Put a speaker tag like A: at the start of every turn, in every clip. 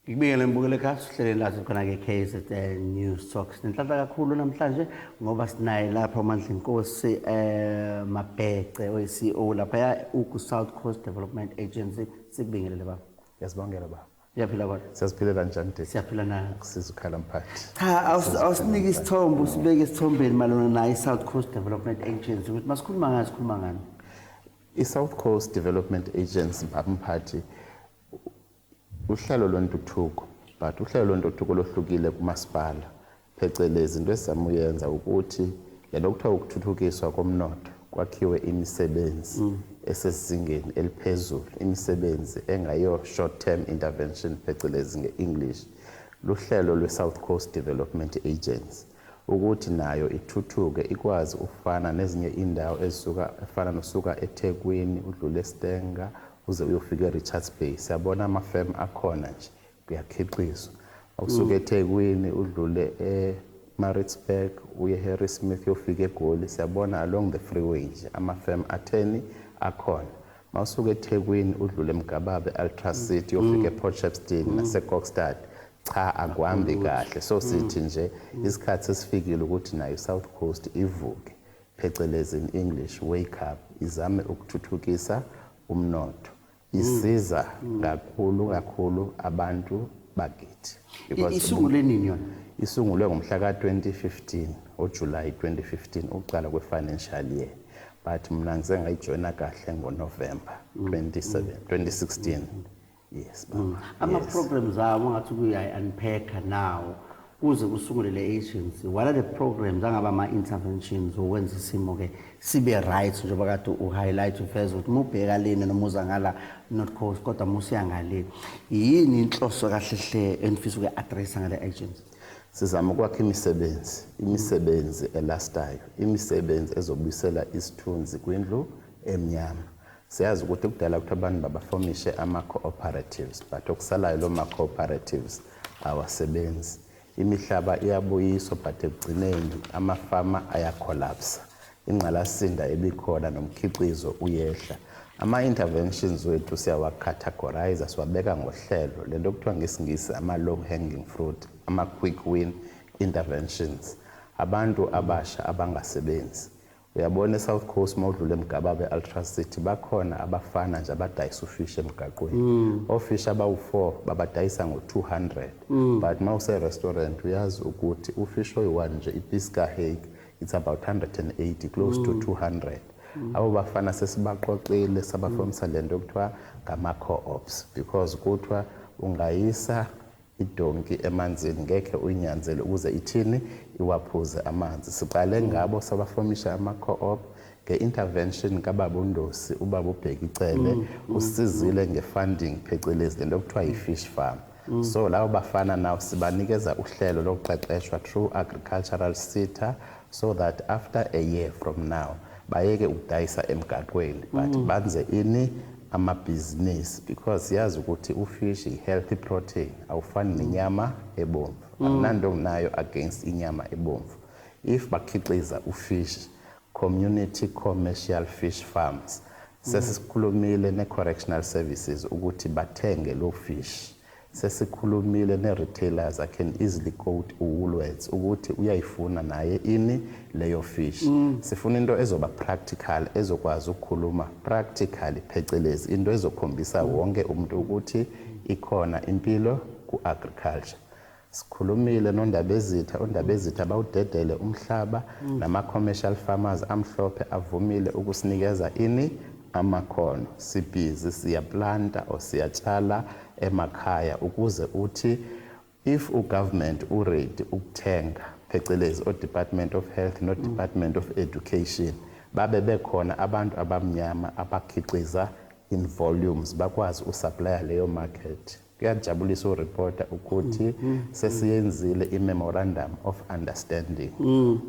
A: Ngibingelele mbukele ekhaya sihlele la sikhona-ke KZN News Talk. Sinenhlanhla kakhulu namhlanje ngoba sinaye lapha uMandla Inkosi eh Mabhece oyiCEO lapha uGu South Coast Development Agency. Sikubingelele baba. Yasibongela baba.
B: Ngiyaphila kodwa. Siyaziphilela
A: njani Dave?
B: Siyaphila nayo. Kusiza
A: ukhala mphathi.
B: Cha awus- awusinike
A: isithombe usibeke esithombeni malona nayo i-South Coast Development Agency ukuthi masikhuluma ngayo sikhuluma ngani. I-South
B: Coast Development Agency baba mphathi uhlelo lwentuthuko but uhlelo lwentuthuko lohlukile kumasipala phecelezi into esizama uyenza ukuthi le nto kuthiwa ukuthuthukiswa komnotho kwakhiwe imisebenzi mm. esesizingeni eliphezulu imisebenzi engayo short term intervention phecelezi nge-english luhlelo lwe-south coast development agency ukuthi nayo ithuthuke ikwazi ukufana nezinye indawo ezisuka efana nosuka ethekwini udlule estenga uze uyofika erichards bay siyabona amafemu akhona nje kuyakhiqizwa okusuka eThekwini udlule eMaritzburg uye eHarrismith uyofika eGoli siyabona along the freeway nje ama-firm atheni akhona mawusuka eThekwini udlule eMgababe Ultra City uyofika ePort Shepstone naseKokstad cha akuhambi kahle so sithi nje isikhathi sesifikile ukuthi nayo iSouth Coast ivuke phecelezi in English wake up izame ukuthuthukisa umnotho isiza kakhulu kakhulu abantu bakithi Because isungule
A: nini yona isungulwe ngomhla ka-2015
B: ujulayi 2015 ukuqala kwe-financial year but mna ngisengayijoyina kahle ngonovemba 27 2016 yes baba. Mm. ama-programs
A: awo ngathi kuyayi-unpacker nawo Kuze kusungule le agency, what are the programs angaba ama-interventions okwenza isimo-ke sibe right njengoba kade u-highlight ufeza ukuthi mubheka lena noma uza ngala not cause kodwa musiya ngale yini inhloso kahle hle enifisa ukuyi-addressa ngale agency sizama ukwakha
B: imisebenzi imisebenzi elastayo imisebenzi ezobuyisela isithunzi kwindlu emnyama Siyazi ukuthi kudala ukuthi abantu babafomishe ama-cooperatives but okusalayo lo ma-cooperatives awasebenzi imihlaba iyabuyiswa but ekugcineni amafama ayacollapsa ingqalasinda ebikhona nomkhiqizo uyehla ama-interventions wethu siyawacategorize siwabeka ngohlelo le nto kuthiwa ngesingisi ama-low hanging fruit ama-quick win interventions abantu abasha abangasebenzi Uyabona eSouth Coast mawudlula eMgababa eAltras City bakhona abafana nje abadayisa ufish emgaqweni. Mm. Ofish abawu4 babadayisa ngo200. Mm. But mawuse restaurant uyazi ukuthi ufish oyi1 nje ipiece ka hake it's about 180 close mm. to 200. Mm. Abo bafana sesibaqoqile sabafomisa mm. lento okuthiwa ngama co-ops because kuthiwa ungayisa idonki emanzini ngekhe uyinyanzele ukuze ithini iwaphuze amanzi siqale ngabo sabafomisha ama co-op nge-intervention kababa undosi ubaba ubheki cele mm, mm, usizile mm. nge-funding phecelezi lento okuthiwa yi-fish farm Mm. so lawo bafana nawo sibanikeza uhlelo lokuqeqeshwa through agricultural sitter so that after a year from now bayeke ukudayisa emgaqweni but mm. banze ini amabhizinisi because siyazi ukuthi ufish i-healthy protein awufani nenyama ebomvu mm. anginanto nginayo against inyama ebomvu if bakhiqiza ufish community commercial fish farms mm. sesikhulumile ne-correctional services ukuthi bathenge lo fish Sesikhulumile ne-retailers I can easily quote uWoolworths ukuthi uyayifuna naye ini leyo fish. Sifuna into ezoba practical ezokwazi ukukhuluma practically phecelezi into ezokhombisa wonke umuntu ukuthi ikhona impilo ku-agriculture. Sikhulumile noNdabezitha, uNdabezitha bawudedele umhlaba nama-commercial farmers amhlophe avumile ukusinikeza ini amakhono. Sibhizi siyaplanta or siyatshala emakhaya ukuze uthi if u government u ready ukuthenga phecelezi o department of health no department of education babe bekhona abantu abamnyama abakhiqiza in volumes bakwazi u supplier leyo market kuyajabulisa u reporter ukuthi mm, mm, mm. sesiyenzile i memorandum of understanding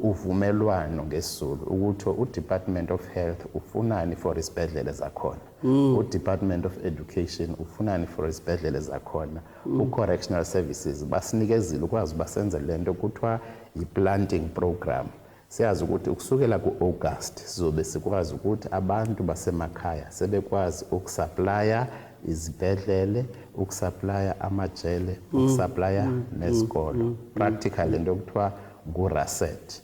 B: uvumelwano ngesizulu ukuthi u department of health ufunani for isibhedlela zakhona mm. udepartment of education ufunani for izibhedlele zakhona mm. ucorrectional services basinikezile ukwazi uba senze le nto kuthiwa yi-planting program siyazi ukuthi ukusukela ku-august sizobe sikwazi ukuthi abantu basemakhaya sebekwazi ukusaplaya izibhedlele ukusaplaya amajele mm. ukusaplaya nesikolo practical into okuthiwa nguRaset.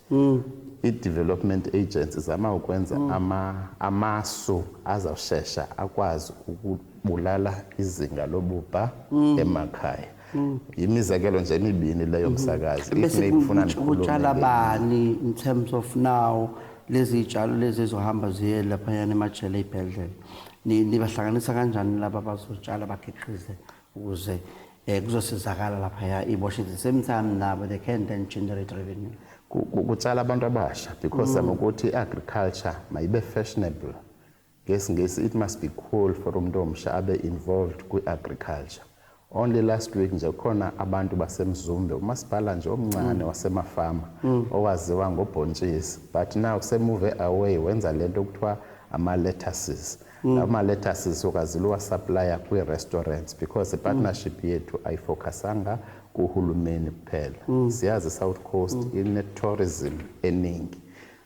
B: I-Development Agency izama ukwenza ama, amasu azawushesha akwazi ukubulala izinga lobubha emakhaya. Yimizekelo nje emibini leyo msakazi. If Bese maybe ufuna kutsha-
A: kutshala ndikhulume ngenye. bani in terms of now lezi zitshalo lezi ezohamba ziye laphayana emajele ey'bhedlela Ni- nibahlanganisa kanjani laba abazotshala bakhiqize ukuze eh, kuzosizakala laphaya iboshe the same time nabo they can then generate revenue kutshala
B: abantu abasha because mm. ukuthi i-agriculture mayibe fashionable ngesingesi it must be cool for umuntu omsha abe involved kwi-agriculture only last week nje kukhona abantu basemzumbe umasipala nje omncane mm. wasemafama mm. owaziwa ngobhontshisi but now semuve away wenza lento okuthiwa ama-lettuces Mm. Lama lettuces sokaziliwa supplier kwi restaurants because mm. partnership mm. yethu ayifocusanga kuhulumeni kuphela. Mm. Siyazi South Coast mm. ine tourism eningi.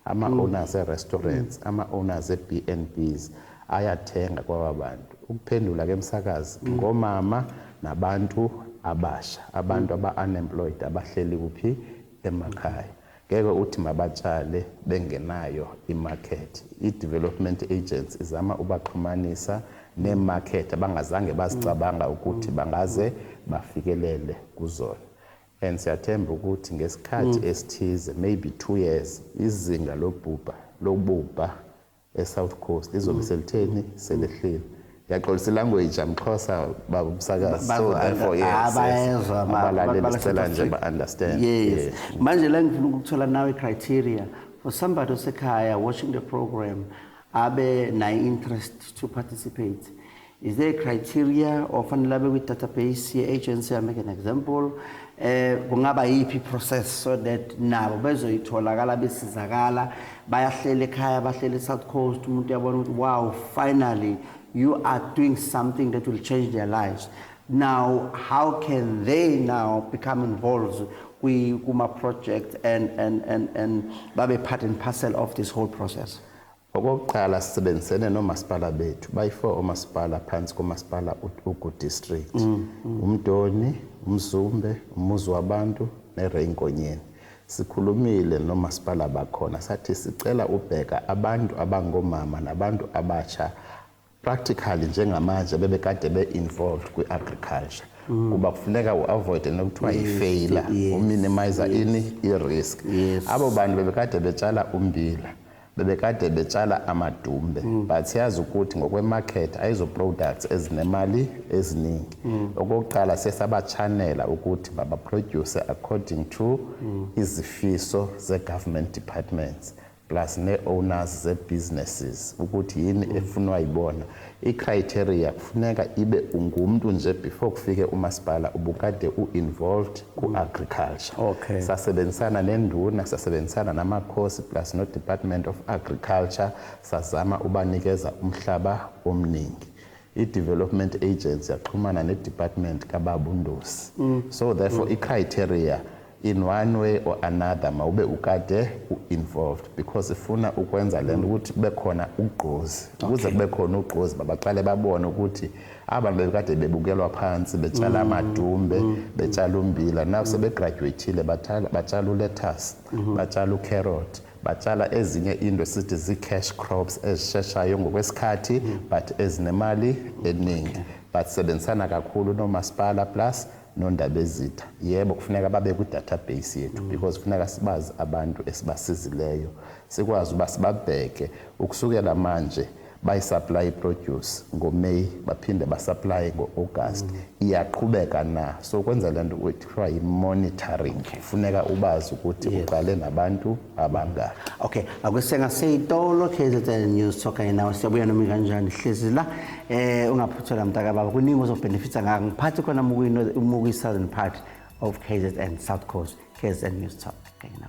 B: Ama mm. owners e restaurants, mm. ama owners e BNBs ayathenga kwaba bantu. Ukuphendula ke msakazi mm. ngomama nabantu abasha, abantu mm. aba unemployed abahleli kuphi emakhaya. Ngeke uthi mabatshale bengenayo imarket. Idevelopment Agency izama ubaxhumanisa neemarket abangazange bazicabanga ukuthi bangaze bafikelele kuzona. And siyathemba ukuthi ngesikhathi esithize, maybe two years, izinga lobhubha lobubha eSouth Coast izobe mm. selitheni mm. selehlile ngiyaxolisa ilanguage amxhosa baba umsakazi so therefore yes ah, bayezwa abalaleli sicela nje ba-understand yes manje
A: la ngifuna ukuthola nawe criteria for somebody osekhaya watching the program abe nayo interest to participate Is there a criteria or fanele abe kwi-database ye-agency, I make an example, eh kungaba yiphi process so that nabo bezoyitholakala besizakala bayahlela ekhaya bahlela eSouth Coast umuntu uyabona ukuthi wow finally you are doing something that will change their lives now how can they now become involved kwi kuma project and and and and babe part and parcel of this whole process Okokuqala
B: sisebenzisene nomasipala bethu bayi-4 omasipala phansi komasipala uGu District. Mm, mm. Umdoni, uMzumbe, umuzi wabantu neReynkonyeni. Sikhulumile nomasipala bakhona sathi sicela ubheka abantu abangomama nabantu abasha practically njengamanje bebekade be-involved kwi-agriculture mm. kuba kufuneka u-avoide nokuthiwa yifeyila uminimiza ini i-risk abo bantu bebekade betshala umbila bebekade betshala amadumbe mm. but siyazi ukuthi ngokwemarket ayizo-products ezinemali eziningi mm. okokuqala siye sabachanela ukuthi babaproduce according to izifiso ze-government departments plus ne owners ze businesses ukuthi yini efunwa yibona i criteria kufuneka ibe ungumntu nje before kufike umasipala ubukade u involved ku agriculture okay. sasebenzisana
A: nenduna
B: sasebenzisana namakhosi plus no department of agriculture sazama ubanikeza umhlaba omningi I-Development Agency yaxhumana ne-Department kaBaba uNdosi. Mm. So therefore mm. i-criteria in one way or another mawube ukade u-involved because ifuna ukwenza le nto ukuthi kube khona ugqozi ukuze kube khona ugqozi babaqale babone ukuthi abantu bebekade bebukelwa phansi betshala mm. amadumbe mm. betshala umbila now sebegraduatile batshala ulethasi mm-hmm. batshala ucarrot Batshala ezinye into esithi zii-cash crops ezisheshayo ngokwesikhathi but ezinemali eningi. Basebenzisana kakhulu nomasipala plus nondabezitha. Yebo kufuneka babe kwi-database yethu because kufuneka sibazi abantu esibasizileyo, sikwazi uba sibabheke ukusukela manje Bayisupply iproduce ngoMay baphinde basupply ngoAugust. Mm. Iyaqhubeka na? So kwenza lento kuthiwa yimonitoring. Okay. Funeka ubazi ukuthi yes. uqale nabantu abangaka. Okay, akusenga
A: seyitolo KZN News Talker nawe siyabuya noma kanjani hlezi la eh ungaphuthola mntaka baba kuningi ozobenefita ngako. Ngiphathi khona mukuyi mukuyi Southern part of KZN South Coast KZN News Talk. Okay, now.